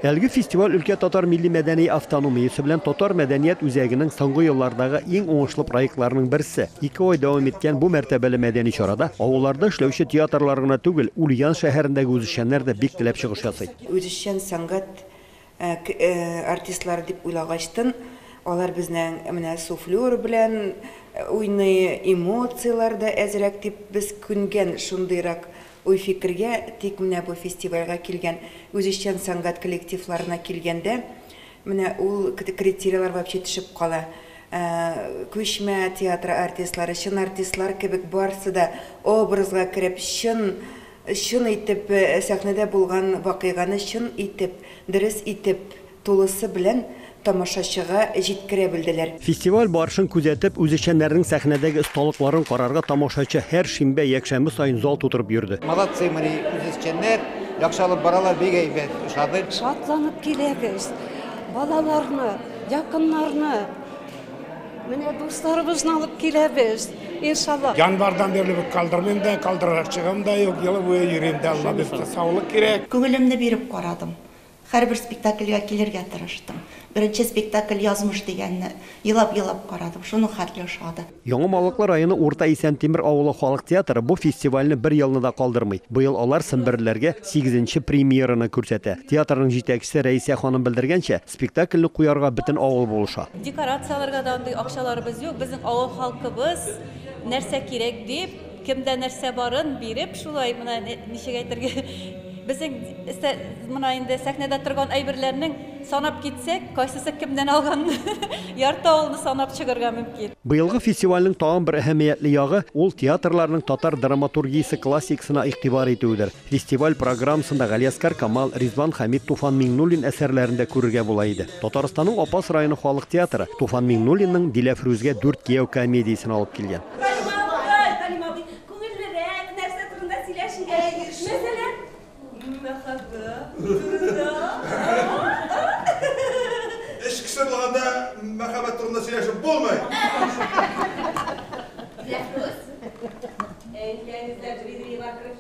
Әлеге фестиваль өлкә татар милли-мәдәни автономиясе белән татар мәдәният үзәгенең соңгы еллардагы иң уңышлы проектларының берсе. Ике ай дәвам иткән бу мәртәбәле мәдәни чарада авылларда эшләүче театрлар гына түгел, Ульян шәһәрендәге үзешчәннәр дә бик теләп чыгыш ясый. Үзешчән сәнгать артистлары дип уйлагачтын, алар безнең менә суфлер белән уйный, эмоцияләр дә әзрәк дип без күнгән шундыйрак Уй-фикергә тик менә бу фестивальгә килгән үзешчән сәнгать коллективларына килгәндә, менә ул критерийлар вообще төшеп кала. Күчмә театры артистлары, чын артистлар кебек барсы да образга кереп, чын, чын итеп сәхнәдә булган вакыйганы чын итеп, дөрес итеп, тулысы белән тамашачыга җиткерә белделәр. Фестиваль барышын күзәтеп, үзешчәннәрнең сәхнәдәге осталыкларын карарга тамашачы һәр шимбә, якшәмбе саен зал тутырып йөрде. Молодцы мои үзешчәннәр, яхшы алып баралар, бик әйбәт, ошады. Шатланып киләбез, балаларны, якыннарны, менә дусларыбызны алып киләбез, иншаллаһ. Январьдан бирле бит калдырмыйм да, калдырачагым да юк, ел буе йөрим дә, Алла бирса, саулык кирәк. Күңелемне биреп карадым, Һәрбер спектакльгә килергә тырыштым. Беренче спектакль Язмыш дигәнне елап-елап карадым, шуның хәтле ошады. Яңа Малыклы районы Урта Исәнтимер авылы халык театры бу фестивальне бер елны да калдырмый. Быел алар семберлеләргә сигезенче премьераны күрсәтә. Театрның җитәкчесе Рәисә ханым белдергәнчә, спектакльне куярга бөтен авыл булыша. Декорацияләргә дә андый акчаларыбыз юк, безнең авыл халкыбыз нәрсә кирәк дип, Кемдә нәрсә барын биреп, шулай, менә ничек әйтергә, безнең эстә, менә инде сәхнәдә торган әйберләрнең, санап китсәк, кайсысы кемнән алганны, ярты авылны санап чыгарга мөмкин. Быелгы фестивальнең тагын бер әһәмиятле ягы, ул театрларның татар драматургиясе классикасына игътибар итүедер. Фестиваль программасында Галиәскар Камал, Ризван Хәмит, Туфан Миңнуллин әсәрләрен дә күрергә була иде. Татарстанның Апас районы халык театры Туфан Миңнуллинның Диләфрүзгә дүрт кияү комедиясен алып килгән. Эш кеше булганда мәхәббәт турында сөйләшеп булмый! Диләфрүз, әнкәң эзләп Дмитрий Иванкров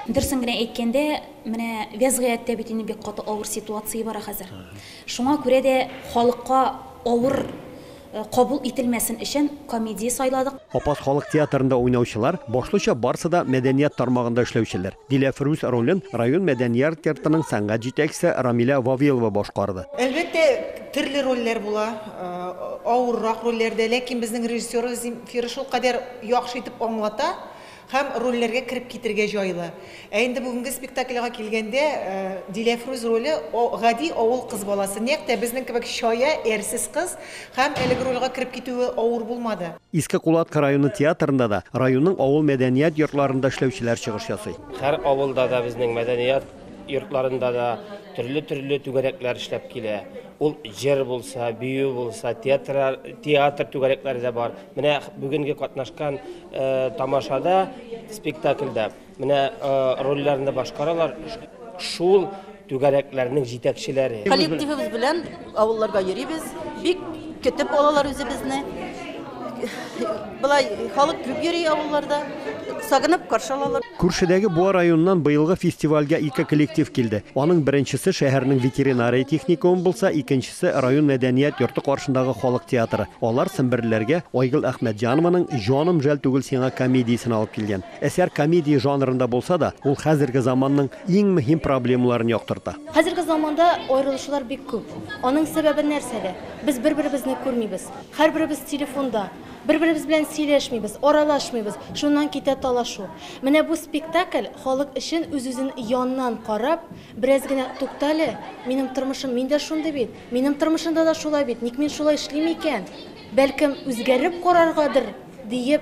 Дөресен генә әйткәндә, менә вәзгыятьтә бит инде бик каты авыр ситуация бара хәзер. Шуңа күрә дә халыкка авыр э, кабул ителмәсен өчен комедия сайладык. Апас халык театрында уйнаучылар, башлыча барсы да мәдәният тармагында эшләүчеләр. Диләфрүз ролен район мәдәниярт йортының сәнгать җитәкчесе Рамилә Вавилова башкарды. Әлбәттә, төрле рольләр була, авыррак рольләр дә, ләкин безнең режиссерыбыз Земфира шулкадәр яхшы итеп аңлата һәм рольләргә кереп китергә җайлы. Ә инде бүгенге спектакльга килгәндә, Диләфрүз роле, гади авыл кыз баласы, нәкъ тә безнең кебек чая, әрсез кыз һәм әлеге рольгә кереп китүе авыр булмады. Иске Кулатка районы театрында да, районның авыл мәдәният йортларында эшләүчеләр чыгыш ясый. Һәр авылда да, безнең мәдәният йортларында да төрле-төрле түгәрәкләр эшләп килә. Ул җыр булса, бию булса, театр, театр түгәрәкләре дә бар. Менә бүгенге катнашкан э, тамашада, спектакльдә Менә рольләрне дә башкаралар шул түгәрәкләрнең җитәкчеләре. Коллективыбыз белән авылларга йөрибез, бик көтеп алалар үзебезне. Былай халык күп йөри авылларда, сагынып каршы алалар. Күршедәге Буа районыннан быелгы фестивальгә ике коллектив килде. Аның беренчесе шәһәрнең ветеринария техникумы булса, икенчесе район мәдәният йорты каршындагы халык театры. Алар семберлеләргә Айгөл Әхмәтҗанованың Җаным жәл түгел сиңа комедиясен алып килгән. Әсәр комедия жанрында булса да, ул хәзерге заманның иң мөһим проблемаларын яктырта. Хәзерге заманда аерылышулар бик күп. Аның сәбәбе нәрсәдә? Без бер-беребезне күрмибез. Һәрберебез телефонда. Бер-беребез белән сөйләшмибез, аралашмыйбыз. Шуннан китә талашу. Менә бу спектакль халык өчен үз-үзен яннан карап, бераз генә туктале, минем тормышым, мин дә шундый бит, минем тормышымда да шулай бит, ник мин шулай эшлим икән? Бәлкем, үзгәреп караргадыр, диеп,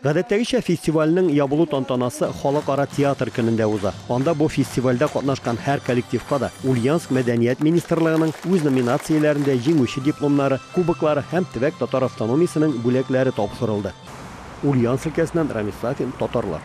Гадәттәгечә, фестивальнең ябылу тантанасы Халыкара театр көнендә уза. Анда бу фестивальдә катнашкан һәр коллективка да Ульяновск мәдәният министрлыгының үз номинацияләрендә җиңүче дипломнары, кубоклары һәм төбәк татар автономиясенең бүләкләре тапшырылды. Ульяновск өлкәсеннән Рамис Сафин, Татарлар.